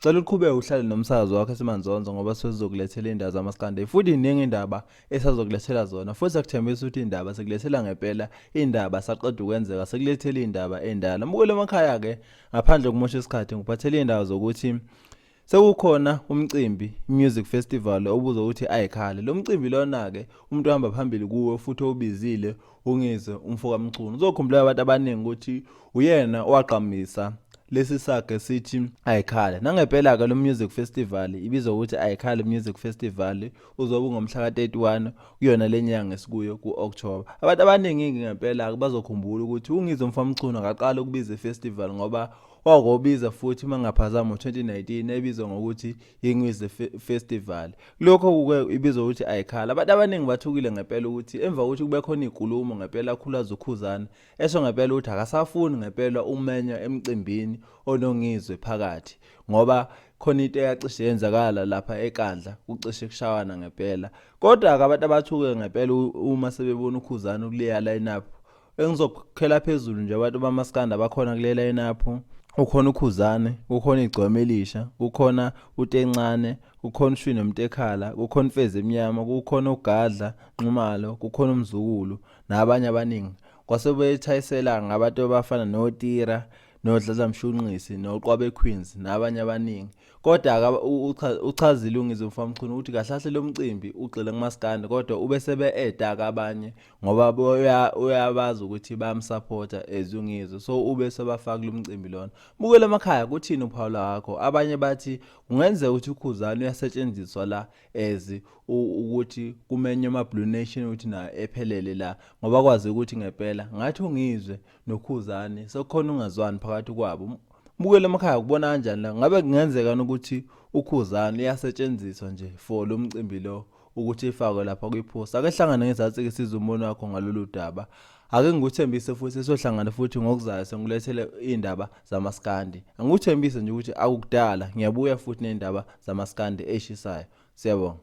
Cela uqhubeke uhlale nomsakazo wakho esimanzonzo ngoba sizokulethela indaba zamaskande futhi iningi indaba esazokulethela zona futhi akuthembisa ukuthi indaba sekulethela ngempela indaba saqeda ukwenzeka sekulethela indaba endala mukule emakhaya ke ngaphandle kokumosha isikhathi ngiphathele indaba zokuthi sekukhona umcimbi music festival obuzo ukuthi ayikhale lo mcimbi lona ke umuntu ohamba phambili kuwe futhi obizile Ungizwe umfoka Mchunu. Uzokhumbula abantu abaningi ukuthi uyena owagqamisa lesi sage sithi ayikhale nangempela ke lo music festival ibizwa ukuthi ayikhale music festival uzobe ngomhla ka-31 kuyona lenyanga esikuyo ku-October abantu abaningi ngempela ke bazokhumbula ukuthi ungizwe mfamchunu akaqala ukubiza ifestival ngoba wakobiza futhi mangaphazama ngo-2019 ebizwa ngokuthi Ingwizi Festival. Lokho kuke ibizwa ukuthi ayikhala. Abantu abaningi bathukile ngempela ukuthi emva kokuthi kube khona inkulumo ngempela akhulaza uKhuzana esho ngempela ukuthi akasafuni ngempela umenywa emcimbini onongizwe phakathi ngoba khona into eyacishe yenzakala lapha eKandla kucishe kushawana ngempela. Kodwa-ke abantu abathuke ngempela uma sebebona uKhuzana ukuleya line up engizokhokhela phezulu nje abantu bamaskanda bakhona kule lineup ukhona ukhuzane kukhona igcwama elisha kukhona utencane kukhona ushwini mtekhala kukhona imfezi emnyama kukhona ugadla nxumalo kukhona umzukulu nabanye abaningi kwase bethayisela ngabantu abafana notira nodladla mshunqisi noqwabe queens nabanye abaningi kodwa uchazile ungizwe mfamchunu ukuthi kahle kahle lo mcimbi ugxile kumaskandi kodwa ube sebe-edaka abanye ngoba uyabazi ukuthi bayamsapota as ungizwe so ube sebafakile umcimbi lona bukela emakhaya kuthini uphawu lwakho abanye bathi kungenzeka ukuthi ukhuzane uyasetshenziswa la as ukuthi kumenywe ama-blue nation ukuthi nayo ephelele la ngoba kwazi ukuthi ngempela ngathi ungizwe nokhuzane sekukhona ungazwani phakathi kwabo bukela emakhaya kubona kanjani la ngabe kungenzeka ukuthi ukhuzane uyasetshenziswa nje for lo mcimbi lo ukuthi ifakwe lapha kwiphosta ake hlangane ngezansi ke siza umbono wakho ngalolu daba ake ngikuthembise futhi sohlangana futhi ngokuzayo sengikulethele indaba zamaskandi angikuthembise nje ukuthi akukudala ngiyabuya futhi nendaba zamaskandi eshisayo siyabonga